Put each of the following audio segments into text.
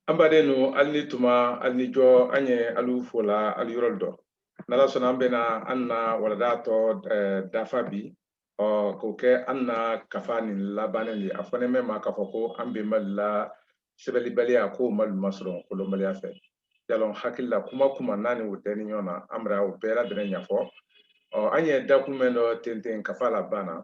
an baden nu alu ni tuma alu ni jɔ an ye alu fo la alu yɔrɔ dɔ n'ala sɔnna an bɛna an na walada tɔ eh, dafa bi ɔ k'o kɛ an na kafa nin labannen di a fɔnen mɛn ma k'a fɔ ko an bɛnbalu la sɛbɛlibaliya k'o m'alu masɔrɔ kolɔnbaliya fɛ yalɔn hakili la kuma kuma n'a ni o tɛ ni ɲɔgɔn na an bara o bɛɛ ladɛnnen ɲafɔ ɔ an ye dakun mɛn dɔ tenten kafa laban na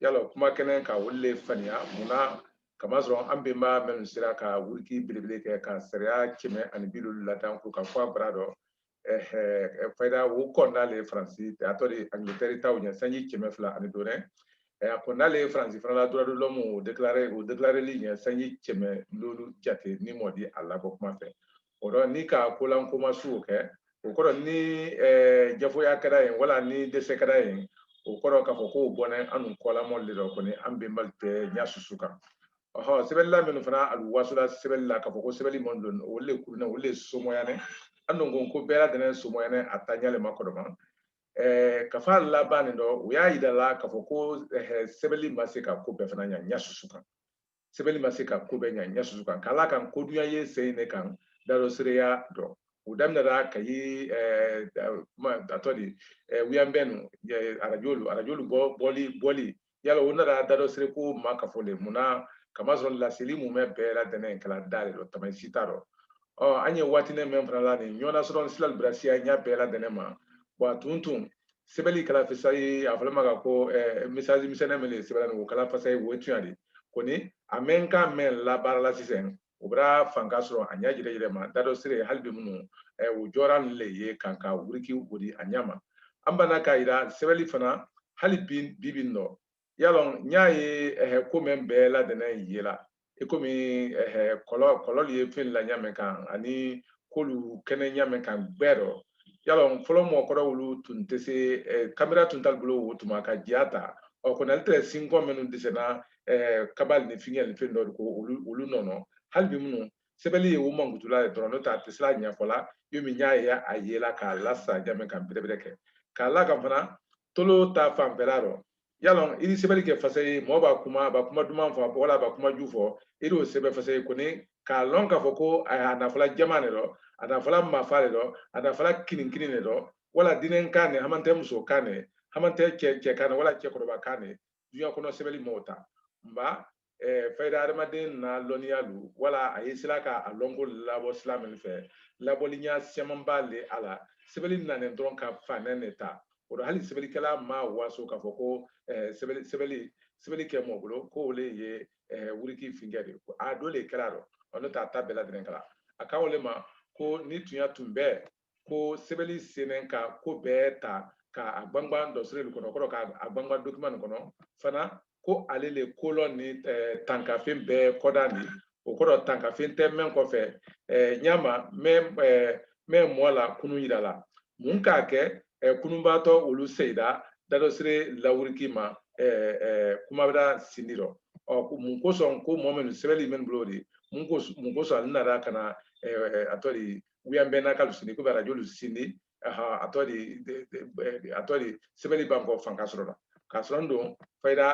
yalɔn kuma kɛnen ka olu le faniya mun na kamasɔrɔ an bɛnba minnu sera ka wuriki belebele kɛ ka sariya kɛmɛ ani bi loolu ladan kurukanfuwa gbara dɔ fayida o kɔnna le faransi a tɔɔ di angilitɛri ta o ɲɛ sanji kɛmɛ fila ani dɔ le a kɔnna le faransi fana la droit de l'homme o déclaré o déclareli ɲɛ sanji kɛmɛ loolu jate ni mɔɔ di a labɔ kuma fɛ o dɔ ni ka kolankoma suw kɛ o kɔrɔ ni jafoya kɛra yen wala ni dɛsɛ kɛra yen o kɔrɔ k'a fɔ k'o bɔnen annu kɔlamɔɔ le dɔ kɔni an bɛnbalu tɛ ɲa susu kan ɔhɔ sɛbɛlila minnu fana alu waso la sɛbɛli la k'a fɔ ko sɛbɛli man don o le kurunɛ o le somoyanɛ an dun ko ko bɛɛ ladɛnnen somoyanɛ a ta ɲa le ma kɔrɔman kafa laban nin dɔ o y'a yira la k'a fɔ ko sɛbɛli ma se ka ko bɛɛ fana ɲa ɲa susu kan sɛbɛli ma se ka ko bɛɛ ɲa ɲa susu kan k'a la kan ko dunya ye sen ne kan dadɔsereya dɔ o daminɛra kayi a tɔɔ di wuɲanbɛn nu arajolu arajolu bɔli bɔli yala o nana dadɔsere ko makafo le mun na kamasɔrɔ laseli mumɛ bɛɛ ladɛnnen kɛ la da le dɔ tama si t'a dɔ ɔ an ye waatini mɛn fana la nin ɲɔgɔnna sɔrɔ ni silalu bara siyaya bɛɛ ladɛnnen ma bɔn a tun tun sɛbɛli kɛ la fasayi a fɔlɔ ma ka ko misaji misɛnnɛn min de sɛbɛ la nin o kɛ la fasayi o ye tuɲa di kɔni a mɛn kan mɛn labaara la sisan o bara fanka sɔrɔ a ɲa jɛrɛ jɛrɛ ma dadɔsere hali bi minnu o jɔra nin le ye kan ka wuriki o di a ɲa ma an banna k'a yira sɛbɛli fana hali bi bi bi nɔ yalɔ n y'a ye ɛhɛ ko mɛn bɛɛ ladɛnnen ye la i komi ɛhɛ kɔlɔ kɔlɔlu ye fɛn la ɲa mɛn kan ani k'olu kɛnen ɲa mɛn kan gbɛ dɔ yalɔ fɔlɔ mɔgɔkɔrɔ olu tun tɛ se ɛɛ kamera tun t'alu bolo o tuma ka jiya ta ɔ kɔni ale tɛ sinkɔ minnu dɛsɛna ɛɛ kabalu ni fiɲɛ ni fɛn dɔ de ko olu olu nɔnɔ hali bi minnu sɛbɛli ye o mankutu la ye dɔrɔn n'o tɛ a tɛ se la ɲafɔ la yomi n y'a ye a yela k'a lasa ɲa mɛn kan bɛrɛbɛrɛ kɛ k'a la kan fana tolo ta fanfɛla rɔ yalɔn i di sɛbɛli kɛ fasayi mɔɔ baa kuma a baa kuma duman fɔ wala a baa kuma ju fɔ i di o sɛbɛ fasayi kɔni k'a lɔn k'a fɔ ko a n'a fɔ la jaman ne rɔ a n'a fɔ la mafa le rɔ a n'a fɔ la kininkinin ne rɔ wala dennɛn kan ne hamantɛ muso kan ne hamantɛ cɛ cɛ kan ne wala cɛkɔrɔba kan ne duɲa kɔnɔ sɛbɛli m'o ta nba eh, fayida adamaden na lɔnniya lu wala a ye se la ka a lɔnko labɔ sila min fɛ labɔlinya siyaman b'a le a la sɛbɛli nanen dɔrɔn ka fanɛ ne ta o dɔ hali sɛbɛlikɛla ma waso k'a fɔ ko eh, sɛbɛli sɛbɛli sɛbɛli kɛ mɔ bolo ko o le ye eh, wuriki finkɛ de a do le kɛ la dɔ ɔ n'o tɛ a ta bɛɛ ladɛnnɛn kɛ la a kan o le ma ko ni tunya tun bɛɛ ko sɛbɛnni senmɛ ka ko bɛɛ ta ka a gbangba dɔsiri nin kɔnɔ kɔrɔ ka a gbangba dokiman nin kɔnɔ fana ko ale le kolɔn ni tankafen bɛɛ kɔda ni o kɔrɔ tankafen tɛ mɛn kɔfɛ ɲama mɛn mɛn mɔɔ la kunu yira la mun k'a kɛ kununbaatɔ olu seyida dadɔsire lawuriki ma kumabira sindi rɔ ɔ mun kosɔn ko mɔɔ minnu sɛbɛnni minnu bolo de mun kosɔn ale nana ka na a tɔ de wiyan bɛɛ na k'alu sindi komi arajo lu sindi a tɔ de a tɔ de sɛbɛli ban ko fanka sɔrɔ la k'a sɔrɔ n don fayida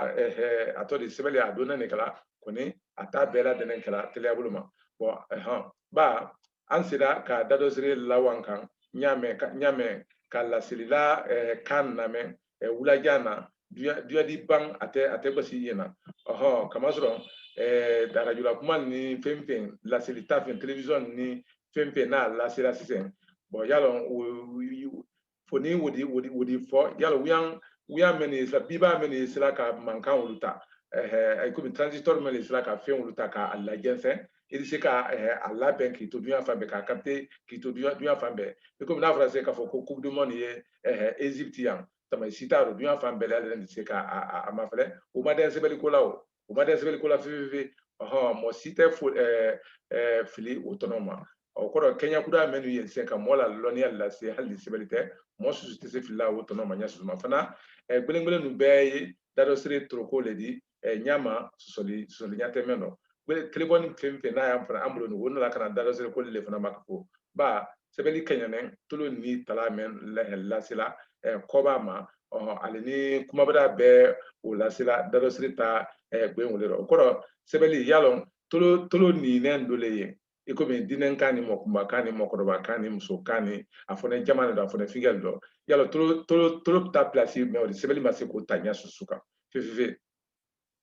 a tɔ de sɛbɛli a donna nin kala kɔni a ta bɛɛ ladɛnnɛn kala teliya bolo ma bɔn ba an seda ka dadɔsiri lawankan ɲa mɛn ka laselila kan lamɛn wulajan na duyan di ban a tɛ a tɛ basi ɲɛ na ɔhɔn kamasɔrɔ arajo la kuma ni fɛn fɛn laseli ta fɛn telewisɔn ni fɛn fɛn n'a lasela sisan bɔn y'a lɔn fo ni wodi wodi wodi fɔ y'a lɔn wiyan wiyan mɛn ye se la bi ba mɛn ye se la ka mankan olu ta ɛɛ komi transistor mɛn ye se la ka fɛn olu ta k'a lajɛnsɛn i di se ka a labɛn k'i to duyan fan bɛɛ k'a capter k'i to duyan fan bɛɛ i komi n'a fɔra se k'a fɔ ko coupe du monde ye ɛɛ ezipti yan tama sita do dunya fan bɛɛ la yɛrɛ se ka a ma fɛlɛ o ma dɛn sɛbɛli ko la o o ma dɛn sɛbɛli ko la fififi ɔhɔn mɔ si tɛ fo ɛɛ ɛɛ fili o tɔnɔ ma o kɔrɔ kɛɲɛ kuda mɛnu ye sɛ ka mɔɔ la lɔnniya lase hali ni sɛbɛli tɛ mɔɔ susu tɛ se fili la o tɔnɔ ma ɲɛ susu ma fana ɛɛ gbelengbelen ninnu bɛɛ ye dadɔsiri toroko le di ɲama sɔsɔli sɔsɔli ɲa tɛ mɛn dɔ telefɔni fɛn fɛn n'a y'a fana an bolo o na la ka na dadɔsiri ko le fana ma ko ba sɛbɛli kɛɲanɛn tolo ni tala mɛn lasela koba ma ale ni kumabara bɛɛ o lasela dadɔsiri ta gbɛ o le dɔ o kɔrɔ sɛbɛli y'a lɔn tolo tolo ninɛn do le ye i komi dinnɛn kan ni mɔkunba kan ni mɔkɔrɔba kan ni muso kan ni a fɔnɛ jama de dɔ a fɔnɛ finkɛ le dɔ y'a lɔn tolo tolo tolo ta pilasi mɛn o de sɛbɛli ma se k'o ta ɲa susu kan fefe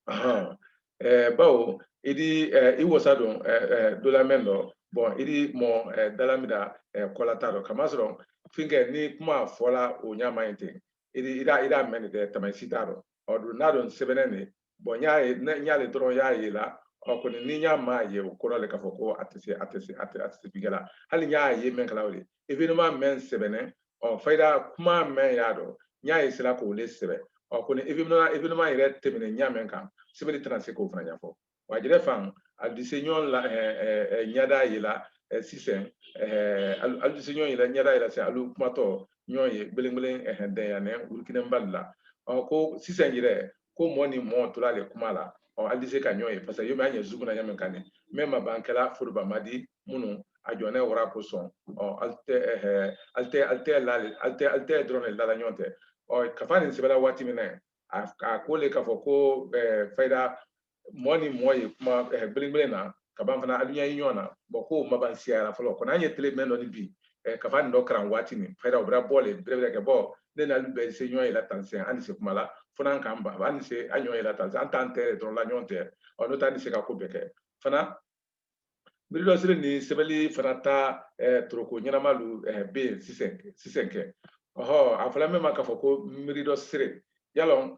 ahan ɛɛ bawo i di ɛɛ i wasa don ɛɛ ɛɛ dolamɛn dɔ bɔn i di mɔ ɛɛ dalamida ɛɛ kɔlata dɔ kamasɔrɔ finkɛ ni kuma fɔla o ɲama ye ten i di i da i da mɛn de tamasi t'a dɔ ɔ don n'a dɔn sɛbɛnɛn ne bɔn ɲa ye ɲa le dɔrɔn y'a ye la ɔ kɔni ni ɲa m'a ye o kɔrɔ le k'a fɔ ko a tɛ se a tɛ se a tɛ a tɛ se finkɛ la hali ɲa ye mɛn kala o le événement mɛn sɛbɛnɛn ɔ fayida kuma mɛn y'a dɔ ɲa ye se la k'o le sɛbɛ ɔ kɔni événement événement yɛrɛ tɛmɛnɛn ɲa mɛn kan sɛbɛli tɛna se k'o fana ɲafɔ wa jɛrɛ fan alu di se ɲɔn na ɲada ye la sisan alu di se ɲɔn ye la ɲada ye la sisan alu kumatɔ ɲɔn ye gbelengbelen dɛnyannɛ wurukinen bali la ɔ ko sisan yɛrɛ ko mɔ ni mɔ to la le kuma la ɔ alu di se ka ɲɔn ye parce que yomi an ye Zoom na ɲa min kan ne même a ban kɛla foroba ma di minnu a jɔ ne wara kosɔn ɔ alu tɛ ɛɛ alu tɛ alu tɛ la alu tɛ alu tɛ dɔrɔn ne la la ɲɔn tɛ ɔ kafa nin sɛbɛ la waati min na a ko le k'a fɔ ko ɛɛ fayida mɔ ni mɔ ye kuma ɛɛ gbelengbelen na ka ban fana alu ɲa ye ɲɔgɔn na bɔn ko ma ban siyara fɔlɔ kɔni an ye tele mɛn dɔ ni bi eh, kafa nin dɔ karan waati nin fayida o bara bɔ le bɛrɛbɛrɛ kɛ bɔn ne ni alu bɛɛ se ɲɔgɔn ye la tan sɛn an ni se kuma la fo n'an k'an ba an ni se an ɲɔgɔn ye la tan sɛn an t'an tɛ don la ɲɔgɔn tɛ ɔ n'o tɛ an ni se ka ko bɛɛ kɛ fana miridɔsere ni sɛbɛli fana ta eh, toroko ɲanama lu eh, bɛ yen sisan sisan kɛ ɔhɔ a fɔla min ma k'a fɔ ko miridɔsere y'a lɔn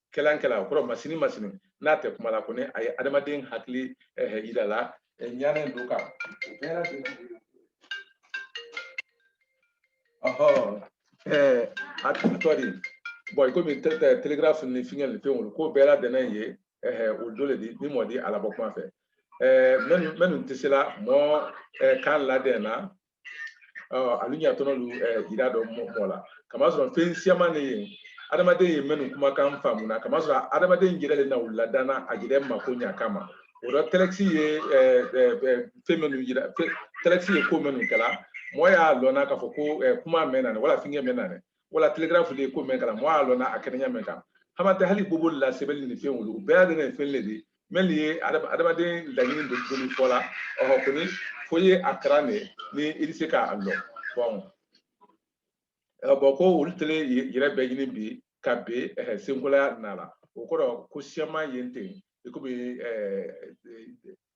kɛlan kɛla o kɔrɔ masini masini n'a tɛ kuma la kɔni a ye adamaden hakili yira la ɲa nin dɔ kan o bɛɛ ladɛnnen ɔhɔn a tɔ di bɔn i komi telegraphe ni fingɛ ni fɛn wolu ko bɛɛ ladɛnnen ye o dɔ le di ni mɔ di a labɔ kuma fɛ minnu tɛ se la mɔ kan ladɛn na ɔ alu ɲatɔnɔ lu ɛ jira dɔ mɔ la kamasɔrɔn fɛn siyaman ne ye adamaden ye mɛnu kumakan faamu na kamasɔrɔn adamaden jɛrɛ le na olu ladan na a jɛrɛ mako ɲa kama o dɔ tɛlɛkisi ye fɛn minnu jira tɛlɛkisi ye ko minnu kɛla mɔgɔ y'a lɔnna k'a fɔ ko kuma mɛn nanɛn wala finkɛ mɛn nanɛn wala telegraphe de ko mɛn kɛla mɔgɔ y'a lɔnna a kɛnɛn ɲa mɛn kan hamantɛ hali bobolu la sɛbɛli ni fɛn wolu bɛɛ ladɛnnɛn fɛn le di mɛlu ye adamaden laɲini dɔ fɔ la ɔhɔ kɔni fo i ye a karan ne ni i di se k'a lɔn bɔn bɔn ko olu tele yɛrɛ bɛɛ ɲini bi ka be senkolaya na la o kɔrɔ ko siyaman yen ten i komi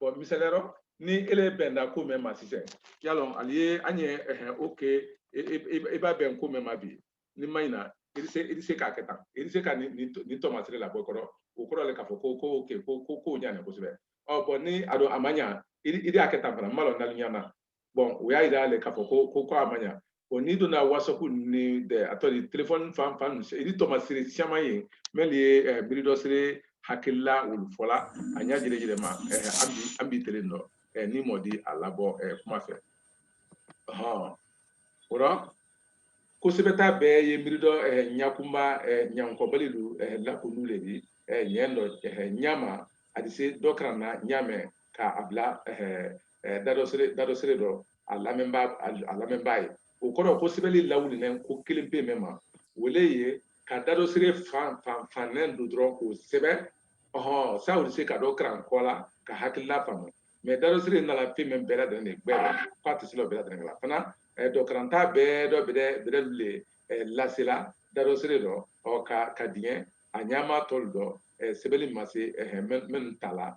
bɔn misali rɔ ni ile bɛnda ko mɛn ma sisan y'a lɔn alu ye an ye ɛhɛn ok i ba bɛn ko mɛn ma bi n'i ma ɲina i di se k'a kɛ tan i di se ka nin nin tɔmasere labɔ kɔrɔ o kɔrɔ le k'a fɔ ko ko ok ko ko ko ɲanin kosɛbɛ ɔ bɔn ni a don a ma ɲa i di a kɛ tan fana n m'a lɔn n'alu ɲa na bɔn o y'a yira le k'a fɔ ko ko ko a ma ɲa bɔn n'i donna wasapu ni dɛ a tɔ di telefɔni fan fan i di tɔmasere siyaman ye mɛlu ye eh, miridɔsere hakilila olu fɔla a ɲa jɛrɛjɛrɛ ma eh, an bi an bi telen dɔ eh, ni mɔ di a labɔ kuma fɛ hɔn o rɔ ko sɛbɛta bɛɛ ye miridɔ ɲakunba ɲankɔbali lu lakunu le di ɲɛ nɔ ɲama a di se dɔkaran na ɲa mɛn ka a bila dadɔsere dadɔsere dɔ a lamɛnbaa a lamɛnbaa ye o kɔrɔ ko sɛbɛli lawulilen ko kelen pe mɛn ma o le ye ka dadɔsere fan fan fannen dɔ dɔrɔn k'o sɛbɛn ɔhɔn sa o di se ka dɔ karan kɔ la ka hakilila faamu mɛ dadɔsere nala fɛn mɛn bɛɛ ladɛn de gbɛ la k'a tɛ se la bɛɛ ladɛn la fana dɔkaranta bɛɛ dɔ bɛrɛ bɛrɛ le lasela dadɔsere dɔ ɔ ka ka diɲɛ a ɲama tɔlu dɔ sɛbɛli ma se minnu ta la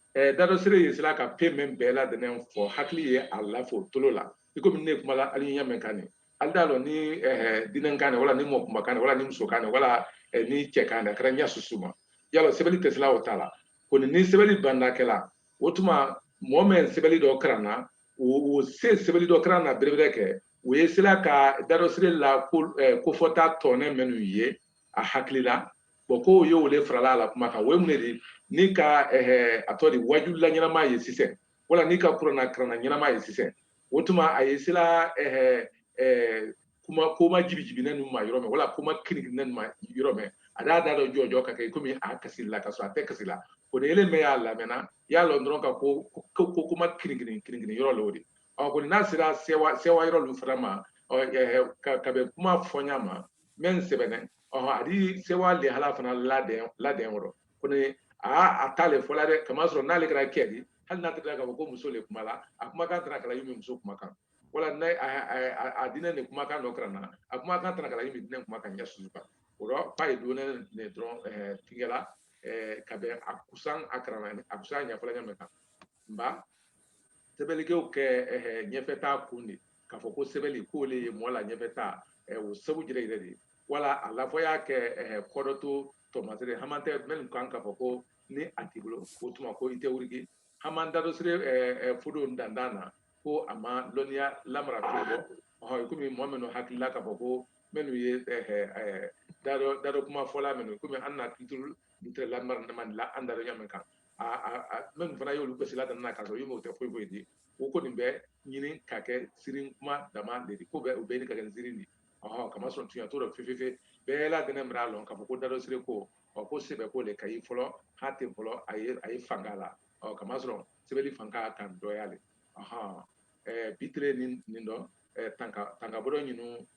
Eh, dadɔsire ye sela ka fɛn min bɛɛ ladɛnnɛn fɔ hakili ye a lafo tolo la i komi ne kuma la ali ɲɛ ɲa min kan ni ali d'a lɔn ni eh, dennɛn kan wala ni mɔɔ kunba kan wala ni muso kan wala eh, ni cɛ kan a kɛra ɲa susu ma yala sɛbɛli tɛ sela o ta la kɔni ni sɛbɛli banda kɛla o tuma mɔɔ mɛn sɛbɛli dɔ karan na o se sɛbɛli dɔ karan na berebere kɛ o ye sela ka dadɔsire la kofɔta tɔnɛ minnu ye a hakili la bɔn ko y'o le farala a la kuma kan o ye mun de di n'i ka eh, a tɔ di wajulila ɲanama ye sisan wala n'i ka kurana karanna ɲanama ye sisan o tuma a ye sela eh, eh, kuma kuma jibijibinɛnnu ma yɔrɔ mɛn wala kuma kinikininɛnnu ma yɔrɔ mɛn a d'a da dɔ jɔjɔ ka kɛ komi a kasi la ka sɔrɔ a tɛ kasi la kɔni ile mɛn y'a lamɛnna i y'a lɔn dɔrɔn ka ko ko kuma kinikini kinikini yɔrɔ le o di ɔ kɔni n'a sera sewa sewa yɔrɔ lu fana ma ka bɛn kuma fɔɲa ma mɛn sɛbɛnɛn a di sewa lihala fana labɛn labɛn o rɔ kɔni aa a t'ale fɔla dɛ kamasɔrɔ n'ale kɛra kɛ di hali n'a tɛgɛra k'a fɔ ko muso le kuma la a kumakan tɛna kɛla yomi muso kumakan wala n'a a dennɛn nin kumakan dɔkaran na a kumakan tɛna kɛla yomi dennɛn kumakan ɲa susu kan o rɔ f'a ye dɔɔnɛn ne dɔrɔn tigɛla ka bɛn a kusan a karan a kusan ɲɛfɔla ɲa mɛn kan nba sɛbɛli ko kɛ ɲɛfɛta kun di k'a fɔ ko sɛbɛli ko le ye mɔɔ la ɲɛfɛta o sabu jɛrɛjɛrɛ di wala a lafɔ y'a kɛ kɔdɔto tɔɔmasere hamantɛ minnu kan k'a fɔ ko ni a t'i bolo o tuma ko i tɛ wurigi haman dadɔsire fodo dandan na ko a ma lɔnniya lamara fɛn bɔ ɔhɔn komi mɔɔ minnu hakili la k'a fɔ ko minnu ye dadɔ kuma fɔla minnu komi an na culture lamara man la an dadɔ ɲa min kan min fana y'olu gosila dan na ka sɔrɔ i m'o tɛ foyi foyi di o kɔni bɛ ɲini ka kɛ sirin kuma dama le di ko bɛ u bɛ ɲini ka kɛ sirin di ɔhɔn kamasɔrɔ tunya t'o dɔ fefefe bɛɛ ladɛnnɛn bar'a lɔn k'a fɔ ko dadɔsire ko ɔ ko sɛbɛ ko le ka yi fɔlɔ haten fɔlɔ a ye a ye fanga la ɔ kamasɔrɔ sɛbɛli fanga kan dɔya le ɔhɔn ɛɛ bi tele nin nin dɔ ɛɛ tanka tanka bɔdɔ ɲinu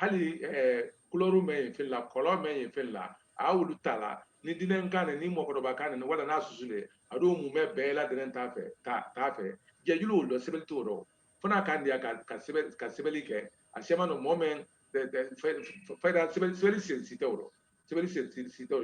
hali kulɔri mɛn ye fɛn la kɔlɔ mɛn ye fɛn la a y'olu ta la ni dennɛn kan ni mɔɔkɔdɔba kan ni wala n'a susu le a dɔ mumɛ bɛɛ ladɛnnɛn t'a fɛ t'a fɛ jɛjulu y'o dɔ sɛbɛli t'o dɔ fo n'a kan diya ka sɛbɛli kɛ a siyaman dɔ mɔɔ mɛn fɛn sɛbɛli sen si tɛ o rɔ sɛbɛli sen si tɛ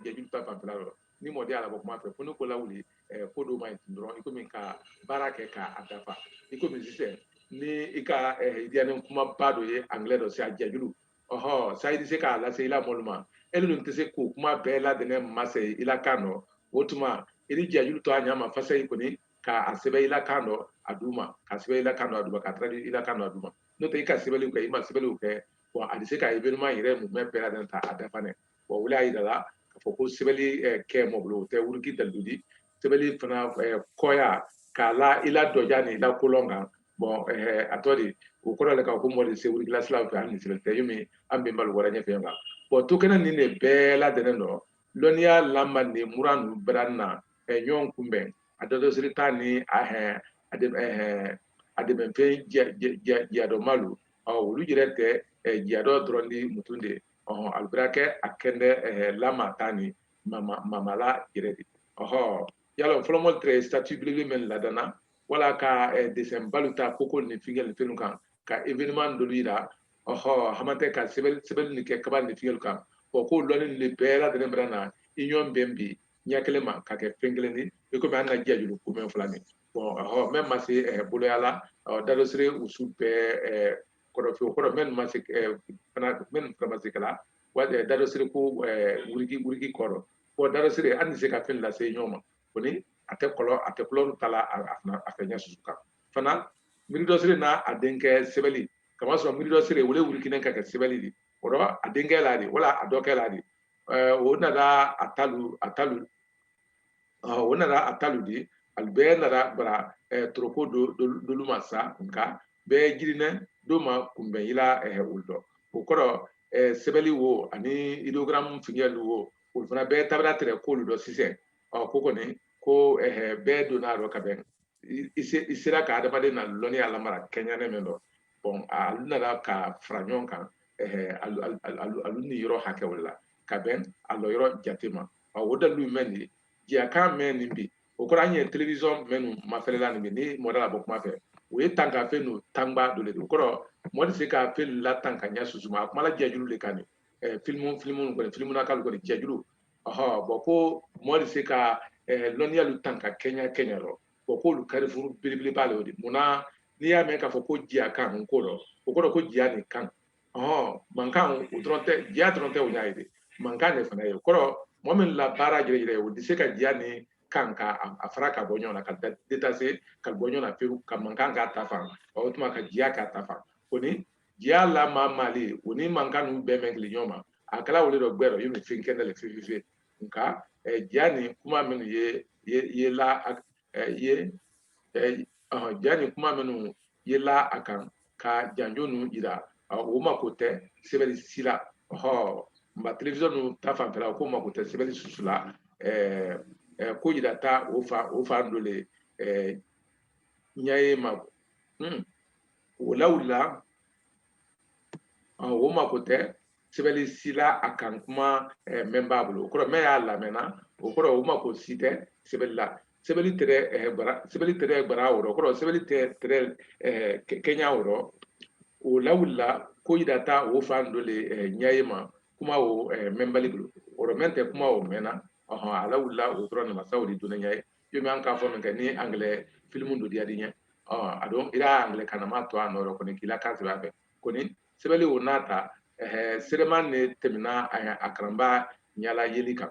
jɛjulu ta fanfɛla rɔ ni mɔɔ di a labɔ kuma fɛ fo n'i k'o lawuli eh, ko dɔw ma ye tun dɔrɔn i komi ka baara kɛ k'a dafa i komi sisan ni i ka eh, diyanen kumaba dɔ ye anglais dɔ se a jɛjulu ɔhɔ sa i di se k'a lase i la mɔɔlu ma e dun tɛ se k'o kuma bɛɛ ladɛnnɛn mase i la kan dɔ o tuma i di jɛjulu to a ɲa ma fasayi kɔni k'a sɛbɛn i la kan dɔ a duuma k'a sɛbɛn i la kan dɔ a duuma k'a traduire i la kan dɔ a duuma n'o tɛ i ka sɛbɛli o kɛ i ma sɛbɛli o kɛ bɔn a di se ka événement yɛrɛ mumɛ bɛɛ ladɛnnɛn ta a dafa dɛ wa wo le y'a yira la k'a fɔ ko sɛbɛli kɛ mɔgɔ bolo o tɛ wuriki dalu di sɛbɛli fana kɔya k'a la i la dɔja ni i la kolɔn kan bɔn a tɔ de o kɔrɔ le ka ko mɔ di se wuriki la silaw fɛ hali ni sɛbɛn tɛ yomi an bɛ balo wɛrɛ ɲɛfɛ kan bɔn to kɛnɛ nin de bɛɛ ladɛnnen dɔ lɔnniya lamandi muran nu bara na ɲɔgɔn kunbɛn a dadɔsiri ta ni a hɛn a de a dɛmɛfɛn jiyadɔmalu olu yɛrɛ tɛ jiyadɔ dɔrɔn di mutun de ɔhɔn alu bara kɛ a kɛndɛ eh, lama ta ni mama mamala yɛrɛ di ɔhɔ y'a lɔn fɔlɔmɔlu tɛrɛ statue belebele mɛn ladan na wala ka eh, dessin balu ta koko ni fingɛ ni fɛnw kan ka événement dolu yira ɔhɔ hamantɛ ka sɛbɛn sɛbɛn ni kɛ kaba ni fingɛlu kan bɔn ko lɔnni nin bɛɛ ladɛnnen bara na ɲɔgɔn bɛn bi ɲɛ kelen ma ka kɛ fɛn kelen di i komi an na jiyajulu ko mɛn fila ni bɔn ɔhɔ mɛn ma se eh, boloya la ɔ dadɔsiri usu bɛɛ eh, kɔrɔfin o kɔrɔ minnu ma se fana minnu fana ma se kɛ la dadɔsiri ko wuriki wuriki kɔrɔ bɔn dadɔsiri hali ni se ka fɛn lase ɲɔgɔn ma kɔni a tɛ kɔlɔ a tɛ kulɔru ta la a fɛ ɲɛ susu kan fana miiridɔsiri n'a a denkɛ sɛbɛli kama sɔrɔ miiridɔsiri o le wurikinen ka kɛ sɛbɛli di o dɔ a denkɛ le di wala a dɔkɛ le di o nada a talu a talu o nada a talu di alu bɛɛ nada bara toroko dolu ma sa nka bɛɛ girinɛ do ma kunbɛn i la olu dɔ o kɔrɔ sɛbɛli wo ani idogaramu fingɛlu wo olu fana bɛɛ ta bara tɛrɛ kolu dɔ sisɛn ɔ ko kɔni ko bɛɛ donna a dɔ ka bɛn i sera ka adamaden na lɔnniya lamara kɛɲɛnen min dɔ bɔn alu nara ka fara ɲɔgɔn kan alu niyɔrɔ hakɛ wala ka bɛn a lɔyɔrɔ jate ma o dalu mɛn di jiya kan mɛn nin bi o kɔrɔ an ye telewisɔn mɛnnu mafɛlɛ la nin bi ni mɔ d'a labɔ kuma fɛ o ye tanka fɛnnu tanba dɔ de don o kɔrɔ mɔgɔ di se ka fɛn latanka ɲɛ susu ma a kumala jiyajulu le kan nin filimu filimu kɔni filimu na k'ale kɔni jiyajulu ɔhɔ bɔn ko mɔgɔ di se ka lɔnniyalu tanka kɛɲɛ kɛɲɛ rɔ bɔn k'olu karifuru belebeleba le o di mun na n'i y'a mɛn k'a fɔ ko jiya kan nko rɔ o kɔrɔ ko jiya ni kan ɔhɔn mankan o dɔrɔn tɛ jiya dɔrɔn tɛ o y'a ye de mankan de fana ye o kɔrɔ mɔgɔ min la baara yɛrɛ o di se ka jiya ni kan ka a fara ka bɔ ɲɔgɔn na ka detase ka bɔ ɲɔgɔn na pewu ka mankan k'a ta fan o tuma ka jiya k'a ta fan o ni jiya lamaamaali o ni mankan ninnu bɛɛ mɛn kile ɲɔgɔn ma a kɛ la wo le dɔ gbɛrɛ yomi fɛn kɛnɛ le fifife nka jiya ni kuma minnu ye ye la ye ja ni kuma minnu ye la a kan ka janjo nu yira o mako tɛ sɛbɛli si la ɔhɔ nba television ninnu ta fanfɛla o ko mako tɛ sɛbɛli susu la ko yira ta o fa o fan dɔ le ɲɛ ye ma o lawulila o mako tɛ sɛbɛli sila a kan kuma eh, mɛnba bolo o kɔrɔ mɛn y'a lamɛnna o kɔrɔ o mako si tɛ sɛbɛli la sɛbɛli tɛrɛ eh, bara sɛbɛli tɛrɛ bara o rɔ o kɔrɔ sɛbɛli tɛ tɛrɛ eh, kɛɲa o rɔ o lawulila ko yidata o fan dɔ le ɲaye ma kuma o mɛnbali bolo o kɔrɔ mɛn tɛ kuma o mɛnna ɔhɔn a lawulila o dɔrɔn namasaw de donna ɲaye yomi an k'a fɔ min kɛ ni angilɛ filimu dɔ diyad'i ɲɛ a don ira angilɛ kanama to a nɔ yɔrɔ kɔni k'i la kan sɛbɛn a fɛ kɔni sɛbɛli o n'a ta sereman ne teminna a karanba ɲa la yeli kan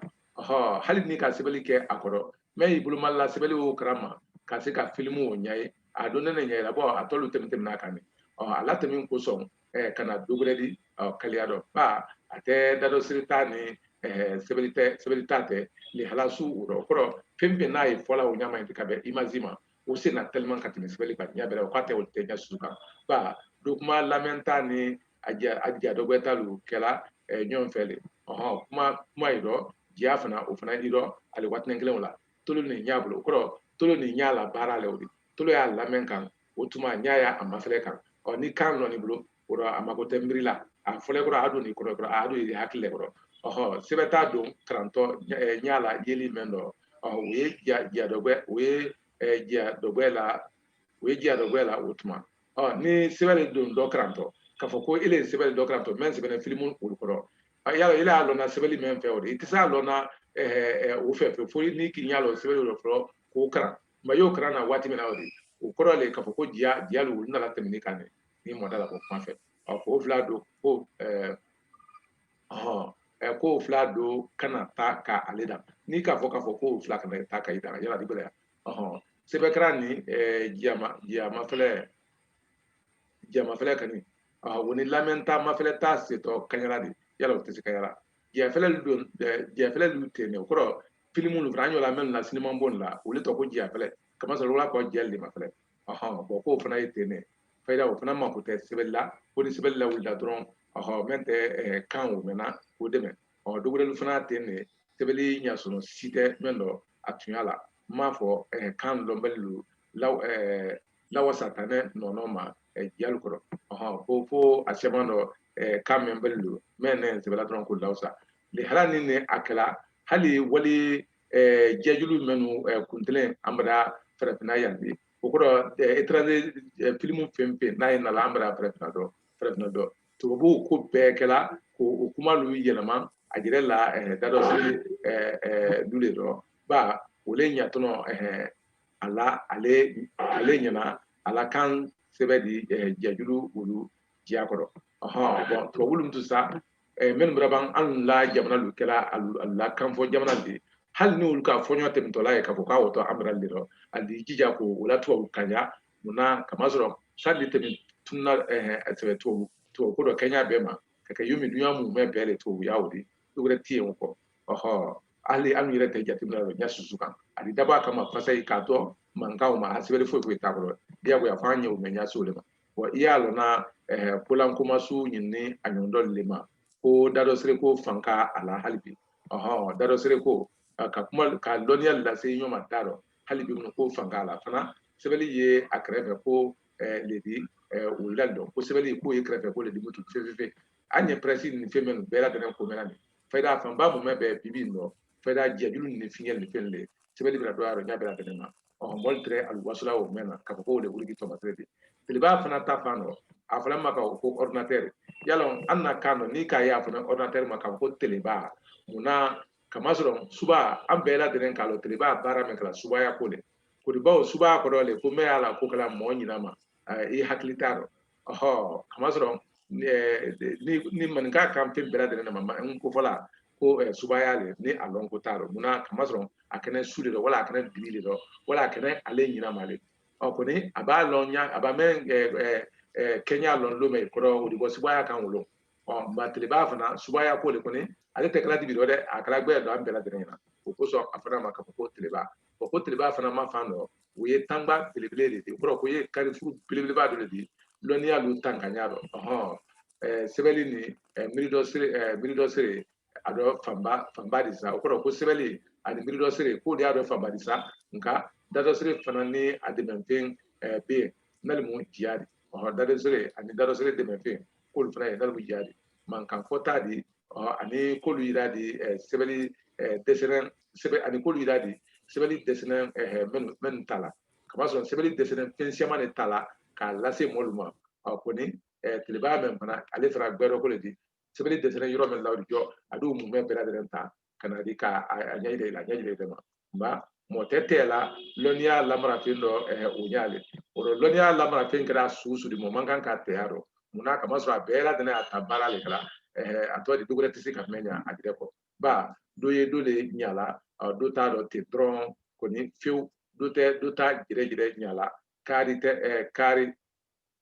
hali n'i ka sɛbɛli kɛ a kɔrɔ mɛ y'i boloma la sɛbɛli o karan ma ka se ka filimu o ɲaye a don ne ne ɲaye la bɔ a tɔ lu temin teminna a kan ne a latemin kosɔn ka na dɔ gwɛrɛ di kaliya dɔ ba a tɛ dadɔsiri ta ni sɛbɛli ta tɛ lihala si o dɔ kɔrɔ fɛn fɛn n'a ye fɔla o ɲama ye ka bɛn imazi ma o sen na tellement ka tɛmɛ sɛbɛli kan ɲa bɛrɛ o k'a tɛ o tɛ ɲɛ su kan ba do kuma lamɛnta ni a ja a ja dɔgwɛta lu kɛla ɲɔɔn fɛ le ɔhɔn kuma kuma yi dɔ jiya fana o fana yi dɔ ale waatinin kelen o la tolo ni ɲa bolo o kɔrɔ tolo ni ɲa la baara le o di tolo y'a lamɛn kan o tuma ɲa y'a a mafɛlɛ kan ɔ ni kan lɔnni bolo kɔrɔ a mako tɛ miiri la a fɔlɛ kɔrɔ a don ni kɔrɔ kɔrɔ a don i hakili kɔrɔ ɔhɔ sɛbɛta dɔkarantɔ ɲa la yeli mɛn dɔ ɔ o ye ja dɔgwɛ o ye ja dɔgwɛ la o ye ja dɔgwɛ la o tuma ɔ ni sɛbɛn de don dɔ karantɔ k'a fɔ ko ile ye sɛbɛn dɔ karantɔ mɛn sɛbɛ filimu olu kɔrɔ yala ile y'a lɔnna sɛbɛli mɛn fɛ o di i tɛ se a lɔnna o fɛ fɛ fo n'i k'i ɲa lɔ sɛbɛ dɔ fɔlɔ k'o karan ma y'o karan na waati mɛn na o di o kɔrɔ le k'a fɔ ko jiya jiya lu nana temin i kan ne ni mɔɔ da la ko kuma fɛ ɔ ko fila dɔ ko ɛɛ ɔhɔn ɛ ko fila dɔ kana taa ka ale dan n'i k'a fɔ k'a fɔ ko fila kana taa ka i dan yala i bɛ yan ɔhɔn sɛbɛ karan ni ɛɛ jiya ma jiya mafɛlɛ jiya mafɛlɛ kɔni ɔhɔn o ni lamɛnta mafɛlɛta setɔ kaɲala di yala o tɛ se kaɲala jiyafɛlɛ don jiyafɛlɛ lu ten ne o kɔrɔ filimu lu fana an y'o lamɛnna sinimabon la olu tɔgɔ ko jiyafɛlɛ kamasɔrɔ wala kɔ jiya lu de mafɛlɛ ɔhɔn bɔn k'o fana ye ten ne fayida o fana mako tɛ sɛbɛli la kɔni sɛbɛli lawulila dɔrɔn ɔhɔn mɛn tɛ eh, kan o mɛnna k'o dɛmɛ ɔ dɔ gwɛrɛ lu fana ten ne sɛbɛli ɲasɔrɔ si tɛ mɛn dɔ a tuɲa la n m'a fɔ eh, kan lɔnbali lu law eh, lawasa tanɛ nɔnɔ ma eh, jiya lu kɔrɔ ɔhɔn ko fo a cɛma dɔ eh, kan mɛnbali lu mɛn ne sɛbɛla dɔrɔn k'o lawasa lihala ni ne a kɛla hali wali jiyajulu mɛnnu kuntelen an bada farafinna yan di o kɔrɔ étranger filimu fɛn fɛn n'a ye nala an bada farafinna dɔ farafinna dɔ tubabu ko bɛɛ kɛla ko o kuma lu yɛlɛma a jɛrɛ la dadɔsi du le dɔ ba o le ɲa tɔnɔ a la ale ale ɲana a la kan sɛbɛ di jiyajulu olu jiya kɔrɔ ɔhɔn bɔn tubabu lu tun sa eh, minnu bɛra ban an la jamana lu kɛla alu la kanfɔ jamana di hali n'olu ka fɔɲɔ tɛmɛtɔla ye k'a fɔ k'a wɔtɔ an bɛra de rɔ a di jija ko o la tɔɔ kanya munna kamasɔrɔ sali tɛmɛ tunna eh, eh, sɛbɛ tɔɔ tɔɔ ko dɔ kɛɲa bɛɛ ma ka kɛ yomi dunya mumɛ bɛɛ de tɔɔ ye o di dɔ gbɛrɛ tɛ yen o kɔ ɔhɔ hali an yɛrɛ tɛ jateminɛ la ɲa susu kan a di dabɔ a kama fasayi k'a dɔn mankanw ma a sɛbɛnni foyi foyi t'a kɔrɔ diyagoya f'an ɲɛ o mɛ ɲɛ se o de ma wa i y'a lɔnna eh, polankomasiw ɲinini a ɲɔgɔndɔli le ma ko dadɔsereko fanka a la hali bi ɔhɔn dadɔsereko eh, ka kuma ka dɔnniya lase ɲɔgɔn ma da dɔ hali bi mun ko fanka a la fana sɛbɛli ye a kɛrɛfɛ ko eh, le di wulila dɔn ko sɛbɛli k'o ye kɛrɛfɛ ko le di mutun fefefe an ye pɛrɛsi nin fɛn minnu bɛɛ ladɛnnen ko mɛn na nin fayida fanba mumɛ bɛɛ bibi in dɔ fayida jɛjulu ni fiɲɛ ni fɛn le sɛbɛli bɛra dɔgɔya a dɔ ɲa bɛɛ ladɛnnen ma ɔhɔn mɔli tɛrɛ aluwasula o mɛn na ka fɔ k'o de wuli tɔmɔ tɛrɛ de telebaa fana ta fan dɔ a fɔla ma k'a fɔ ko ɔridinatɛri y'a lɔn an na kan dɔ n'i k'a ye a fana ɔridinatɛri ma k'a fɔ ko telebaa mun na kamasɔrɔ suba an bɛɛ lajɛlen k'a lɔn telebaa baara min kɛla subaya ko de ko di bawo subaya kɔrɔ le ko mɛn y'a la ko kɛla mɔɔ ɲina ma i hakili t'a dɔ ɔhɔ kamasɔrɔ ni maninka kan fɛn bɛɛ lajɛlen ma n ko fɔla ko subaya le ni a lɔn ko t'a dɔ munna kamasɔrɔ a kɛnɛ su de dɔ wala a kɛnɛ dibi de dɔ wala a kɛnɛ ale ɲina ma le ɔ kɔni a b'a lɔn ɲa a b'a mɛn kɛɲa lɔn lon mɛn ko o di bɔ subaya kan wolo ɔ nka telebaa fana subaya ko de kɔni ale tɛ kɛla dibi dɔ dɛ a kɛla gbɛ dɔ an bɛɛ lajɛlen ɲɛna o kosɔn a fana ma k'a fɔ ko telebaa o ko telebaa fana ma fan dɔ o ye tangba belebele de di o kɔrɔ ko ye karifuru belebeleba dɔ de di lɔnniya lu tankaɲa dɔ sɛbɛli ni miiridɔsere miiridɔsere a dɔ fanba fanba di sa o kɔrɔ ko sɛbɛli ani miiridɔsere k'o de y'a dɔ fanba di sa nka dadɔsere fana ni a dɛmɛnfɛn bɛ yen nalimun jiya di dadɔsere ani dadɔsere dɛmɛnfɛn k'olu fana ye nalimun jiya di mankan fɔta di ani k'olu yira di sɛbɛli dɛsɛnɛn sɛbɛli ani k'olu yira di sɛbɛli dɛsɛnɛn minnu ta la kamasɔrɔ sɛbɛli dɛsɛnɛn fɛn siyaman de ta la k'a lase mɔlu ma kɔni telebaa mɛn fana ale fana gbɛdɔ ko le di sɛbɛli dɛsɛnɛn yɔrɔ min la o di jɔ a di o mumɛ bɛɛ lajɛlen ta ka na di k'a ɲɛ yira i la a ɲɛ yira i ma nka mɔgɔ tɛ tɛ la lɔnniya lamarafɛn dɔ o ɲɛlen o la lɔnniya lamarafɛn kɛra su su di mɔ man kan ka tɛ a dɔ munna kamasɔrɔ a bɛɛ ladɛnnen a ta baara de kɛla a tɔ di do gbɛrɛ tɛ se ka mɛn ɲa a jɛrɛ kɔ ba do ye do de ɲa la do ta dɔ ten dɔrɔn kɔni fewu do tɛ do t'a jɛrɛ jɛrɛ ɲa la kari tɛ kari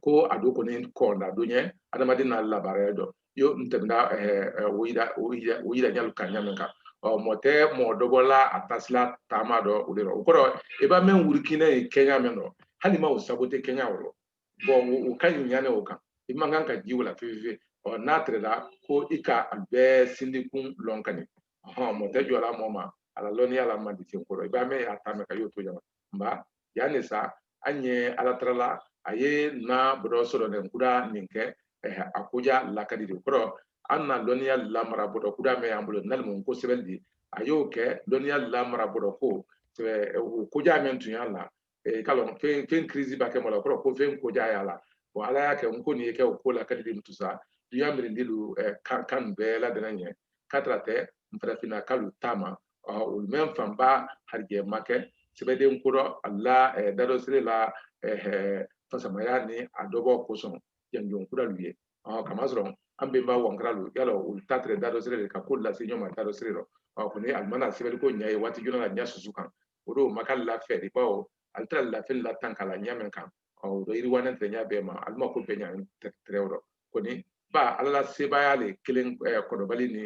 ko a do kɔni kɔnda do ye adamaden n'a labaara dɔ yo n tɛmɛna o yira o yira o yira ɲa lu kan ɲa min kan ɔ mɔ tɛ mɔ dɔbɔla a tasila taama dɔ o de la o kɔrɔ i b'a mɛn wurukina ye kɛɲa min dɔ hali ma o sabu tɛ kɛɲa o rɔ bɔn o ka ɲi ɲane o kan i man kan ka ji o la fefe ɔ n'a tɛrɛla ko i ka a bɛɛ sindikun lɔn kani mɔ tɛ jɔla mɔ ma a la lɔnniya la man di sen kɔrɔ i b'a mɛn a taamɛ ka y'o to ɲama nba yani sa an ye ala tarala a ye na bɔdɔ sɔrɔnin kuda nin kɛ a koja lakadi di kɔrɔ an na lɔnniya lamara bɔdɔ kuda mɛ y'an bolo nalimu ko sɛbɛli di a y'o kɛ lɔnniya lamara bɔdɔ ko o koja mɛ tun y'a la k'a lɔn fɛn fɛn kirisi b'a kɛ mɔ lu kɔrɔ ko fɛn koja y'a la bon ala y'a kɛ n ko nin ye kɛ o ko lakadi di mutun sa duya mirindi lu kan kan bɛɛ ladɛnnɛn ye k'a tɛrɛ tɛ n farafinna kan lu ta ma o mɛn fanba harijɛ ma kɛ sɛbɛden ko dɔ alu la dadɔsere la fasamaya ni a dɔbɔ kosɔn janjon kura lu ye kamasɔrɔ an bɛnba wankara lu yala olu ta tɛrɛ dadɔsere le ka ko lu lase ɲɔɔn ma dadɔsere dɔ kɔni alu ma na sɛbɛli ko ɲa ye waati jona la ɲa susu kan o don ma k'alu la fɛ di bawo alu tɛrɛ alu la fɛn latanka la ɲa min kan o dɔ yiriwanɛn tɛrɛ ɲa bɛɛ ma alu ma ko bɛɛ ɲa tɛrɛ o rɔ kɔni ba ala la sebaaya le kelen kɔrɔbali ni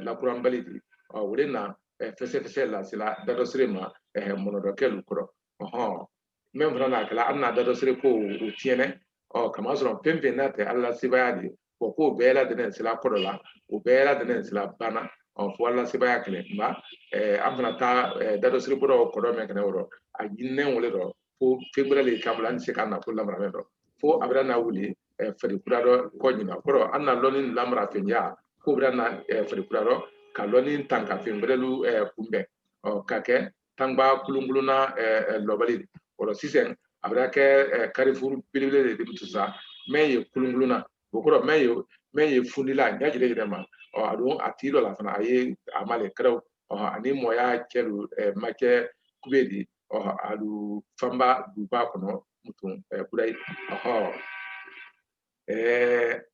lakuranbali di o le na fɛsɛfɛsɛ lasela dadɔsere ma mɔnɔdɔkɛ lu kɔrɔ ɔhɔn min fana n'a kɛla an na dadɔsere ko o tiɲɛnɛ ɔ kamasɔrɔ fɛn fɛn n'a tɛ ala la sebaaya di o ko bɛɛ ladɛnnɛn sela kɔrɔ la o bɛɛ ladɛnnɛn sela banna ɔ fo ala sebaya kelen nba an fana ta dadɔsere bɔdɔ kɔrɔ mɛn kɛnɛ o rɔ a ɲininen o le dɔ fo fɛn gbɛrɛ le kan an tɛ se ka na ko lamara mɛn dɔ fo a bara na wuli fari kura dɔ kɔ ɲina kɔrɔ an na lɔnni lamara fɛnya ko bara na fari kura dɔ ka lɔnni tanka fɛn gbɛrɛ lu kunbɛn ɔ ka kɛ tangba kulunkulunna lɔbali o rɔ sisan a bara kɛ karifuru belebele di mutun sa mɛ ye kulunkulunna o kɔrɔ mɛ ye mɛ ye fundila a ɲa jire yɛrɛ ma ɔ a don a tigi dɔ la fana a ye a ma le kɛrɛw ani mɔya cɛ lu ma kɛ kube di ɔ alu fanba duba kɔnɔ mutun kura ye ɔhɔ ɛɛ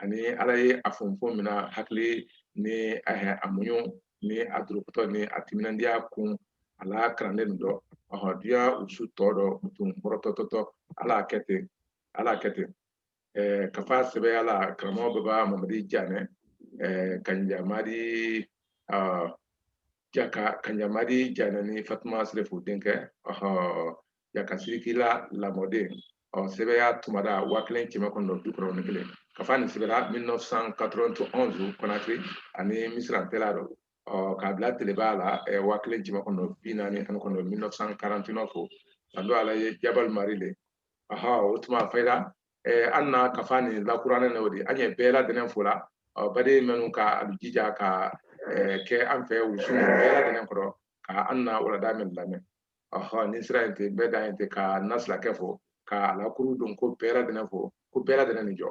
ani ala ye a fɔnfɔn min na hakili ni a muɲun ni a durukutɔ ni a timinandiya kun a la karanden dɔ ɔhɔ duya usu tɔ dɔ mutun kɔrɔtɔtɔtɔ ala kɛ ten ala kɛ ten ɛɛ kafa sɛbɛya la karamɔgɔ baba mamadi janɛ ɛɛ kanjamadi ɔɔ jaka kanjamadi janɛ ni fatuma serefu denkɛ ɔhɔ ya ka sirikila lamɔden ɔ sɛbɛya tumada waa kelen kɛmɛ kɔnɔntɔn bi kɔnɔntɔn ni kelen kafa nin sɛbɛra 1991 konakiri ani misira ntɛla dɔ ɔ k'a bila teleba la waa kelen kɛmɛ kɔnɔntɔn bi naani ani kɔnɔntɔn 1949 fo ka don ala ye jabal mari le aha o tuma fayida an na kafa nin lakurannen na o de an ye bɛɛ ladɛnɛn fo la ɔ baden minnu ka a jija ka kɛ an fɛ wusu bɛɛ ladɛnɛn kɔrɔ ka an na walada min lamɛn ɔhɔn ni sira in tɛ bɛɛ dan ye ten ka nasilakɛ fo ka alakuru don ko bɛɛ ladɛnɛn fo ko bɛɛ ladɛnɛn ni jɔ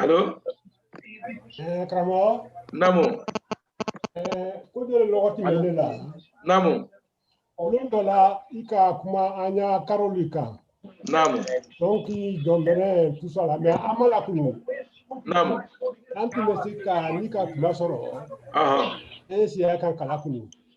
Alo eh, karamɔgɔ naamu eh, ko dɔ le lɔgɔ tun bɛ ne la naamu olu dɔ la i ka kuma an y'a karoli kan naamu donc jɔn bɛrɛ tout ça là mais an ma lakunu naamu an tun ma se ka ni ka kuma sɔrɔ e sera k'an kalan kunu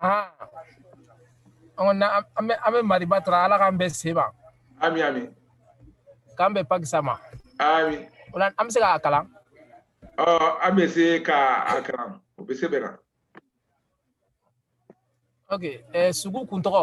Ah. On a, an bɛ an bɛ mariba tara ala k'an bɛɛ se ma ami ami k'an bɛɛ pakisa ma ami o la an bɛ se k'a kalan ɔ an bɛ se ka a kalan o bɛɛ sɛbɛnna ok eh, sugu kuntɔgɔ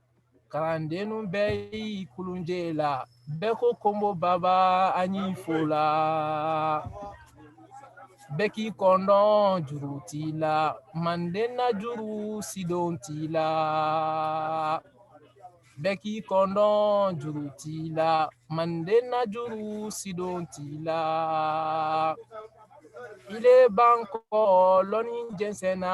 Kalandennu bɛɛ y'i kulunjɛ la bɛɛ ko konbo baba an y'i fo la bɛɛ k'i kɔndɔn juru tii la manden na juru sidon tii la bɛɛ k'i kɔndɔn juru tii la manden na juru sidon tii la ile ban kɔ lɔnni jɛnsɛnna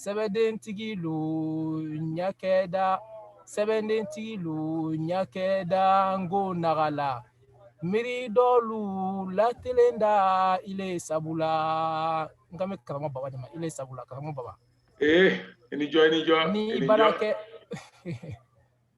sɛbɛdentigilu ɲakɛda sɛbɛdentigilu ɲakɛda n ko naga la miiri dɔ lu latelenda ile sabu la n bɛ karamɔ baba ile sabu la karamɔ baba i jɔ i jɔ ni bara kɛ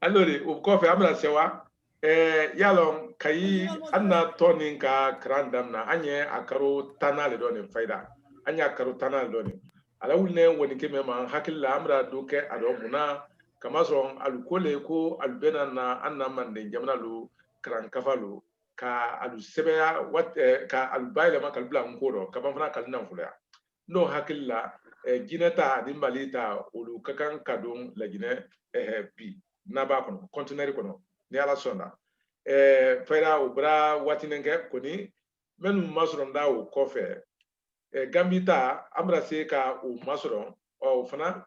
alors o kɔfɛ an bɛna sɛwa y'a lɔn kayi an na tɔn nin ka karan damina an ye a karo tannan le dɔ nin fayida an y'a karo tannan le dɔ nin a lawulinɛn nkɔnikɛ mɛn ma hakili la an bara dɔ kɛ a dɔ mun na k'a masɔrɔn alu ko le ko alu bɛna na an na manden jamana lu karan kafa lu ka alu sɛbɛya ka alu bayɛlɛma k'alu bila nko dɔ ka ban fana k'alu nafoloya n'o hakili la eh, jinɛ ta ani mali ta olu ka kan ka don lajinɛ eh, bi n'a b'a kɔnɔ kɔntinɛri kɔnɔ ni ala sɔnna eh, fayida o bara waatinen kɛ kɔni minnu masɔrɔnda o kɔfɛ eh, gambi ta an bara se ka o masɔrɔ ɔ o fana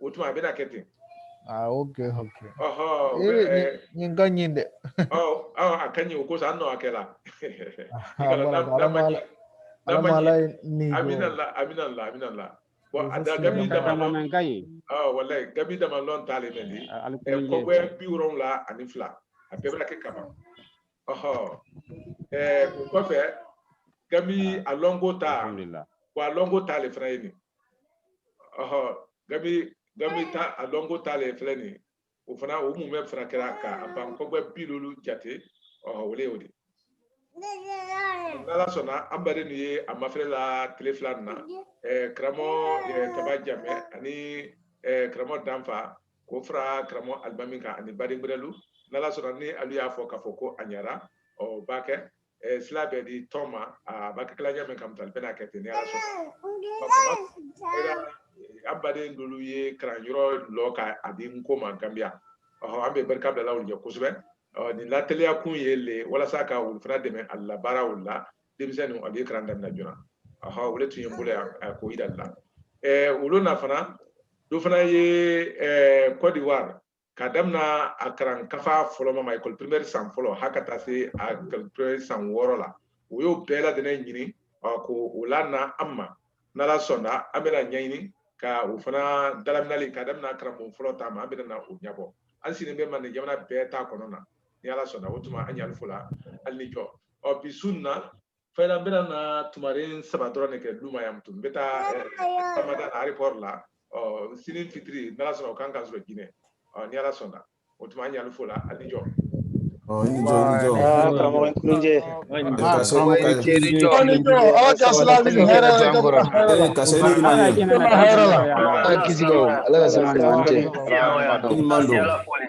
o tuma a bɛna kɛ ten ah ok ok nin ka ɲi dɛ a ka ɲi o ko sa an nɔ a kɛ la amina la amina la amina la bon a da gambi dama walayi gambi damalɔn ta le mɛn di kɔgbɛ bi wolonwula ani fila a bɛɛ bara kɛ k'a ban ɔhɔ ɛɛ o kɔfɛ gambi a lɔnko ta wa a lɔnko ta le fana ye nin ɔhɔ gambi gambi ta a lɔnko ta le filɛ nin ye o fana o mumɛ fana kɛra ka a ban kɔgbɛ bi loolu jate ɔhɔ o le y'o di. n'ala sɔnna an badennu ye a mafilɛ la tile fila nin na ɛɛ karamɔgɔ ɛɛ taba jamɛ ani ɛɛ karamɔgɔ danfa k'o fara karamɔgɔ alimami kan ani baden gbɛrɛlu n'ala sɔnna ni alu y'a fɔ k'a fɔ ko a ɲɛra o baa kɛ sila bɛ di tɔn ma a b'a kɛ kɛ la ɲa min kamutali bɛna kɛ ten ni ala sɔnna an baden dolu ye karanyɔrɔ lɔ ka a di nko ma ganbiya an bɛ barika bila la olu ye kosɛbɛ nin lateliya kun ye le walasa ka olu fana dɛmɛ a la baara olu la denmisɛnnin a bɛ kalan daminɛ joona aha olu tun ye n bolo yan a ko yira la ɛɛ olu na fana dɔ fana ye ɛɛ Côte d'Ivoire ka daminɛ a karan kafa fɔlɔ ma école primaire san fɔlɔ ha ka taa se a école primaire san wɔɔrɔ la o y'o bɛɛ lajɛlen ɲini k'o lana an ma n'ala sɔnna an bɛna ɲɛɲini ka o fana dalaminali ka daminɛ karamɔgɔ fɔlɔ ta ma an bɛna na o ɲɛbɔ an sigilen bɛ manden jamana bɛɛ ta kɔnɔ na ni ala sɔnna o tuma an ɲ'ali fo la ali ni jɔ ɔ bi su nin na fayida n bɛna na tumaren saba dɔrɔn de kɛ duma yan tun n bɛ taa samada eh, aéroport la ɔ sini fitiri n'ala sɔnna o kan ka sɔrɔ jinɛ ɔ ni ala sɔnna o tuma an ɲ'ali fo la a ni jɔ karamɔgɔ nkunjɛ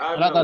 ala ka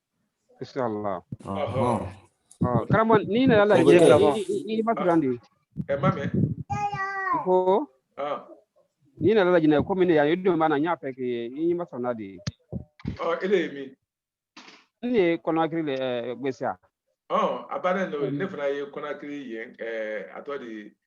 insha Allah karamo ni na yalla je la bon ni ba turan di e ma me ko ni na yalla jina ko min ya yudu mana nya pe ke ni ma sona di oh ele mi ni konakiri le gbesia oh abana no ne fana ye konakiri ye eh atodi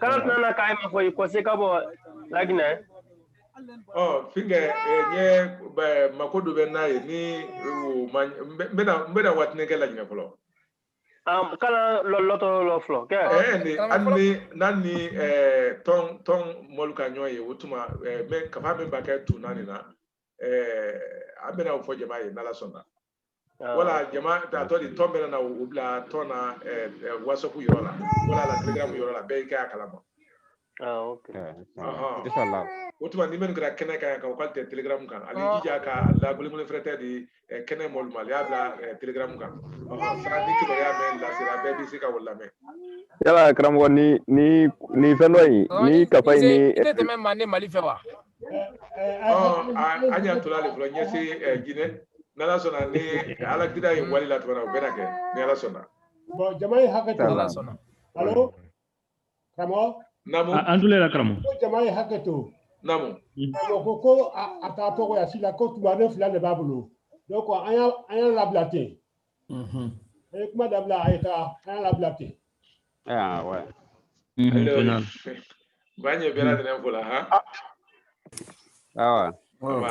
k'ala tana ka i ma fo i kɔse ka bɔ laginɛ ɔ finkɛ n ye mako dɔ bɛ n na yen ni n bɛna waatini kɛ laginɛ fɔlɔ kala lɔtɔ lɔ fɔlɔ kɛ ani n'an ni tɔn tɔn mɔlu ka ɲɔgɔn ye o tuma kafa min b'a kɛ tun naani na an bɛna o fɔ jama ye n'ala sɔnna Ah, wala jama ta tɔ di tɔn bɛna na o bila tɔn na eh, eh, wasapu yɔrɔ la wala la telegram yɔrɔ la bɛɛ y'i kɛ a kalama Ah, ok. Ɔhɔn. Inshallah. o tuma ni minnu kɛra kɛnɛ kan ka u ka tɛ telegram kan ali jija ka lagulimuli fɛrɛ tɛ di eh, kɛnɛ mɔlu ma y'a bila eh, telegram kan Ɔhɔn, sara ni kibaruya mɛn lasera bɛɛ bɛ se ka o lamɛn yala karamɔgɔ ni ni ni fɛn dɔ in ni kafa in ni i tɛ tɛmɛ manden mali fɛ wa an y'a to ale fɔlɔ ɲɛsin jinɛ n'ala sɔnna ni ala kira ye wali la tuguni o bɛna kɛ ni ala sɔnna bɔn jama ye hakɛ to ala sɔnna alo karamɔgɔ namu an tulo la karamɔgɔ ko jama ye hakɛ to namu karamɔgɔ ko ko a taatɔ woyasi la ko tuma ne fila de b'a bolo donc an y'a an y'a labila ten A ye kuma dabila a ye taa an y'a labila ten ba ɲɛ bɛɛ lajɛlen ko la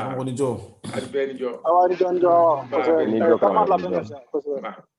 han kɔni jɔ a bɛɛ ni jɔ a bɛɛ ni jɔ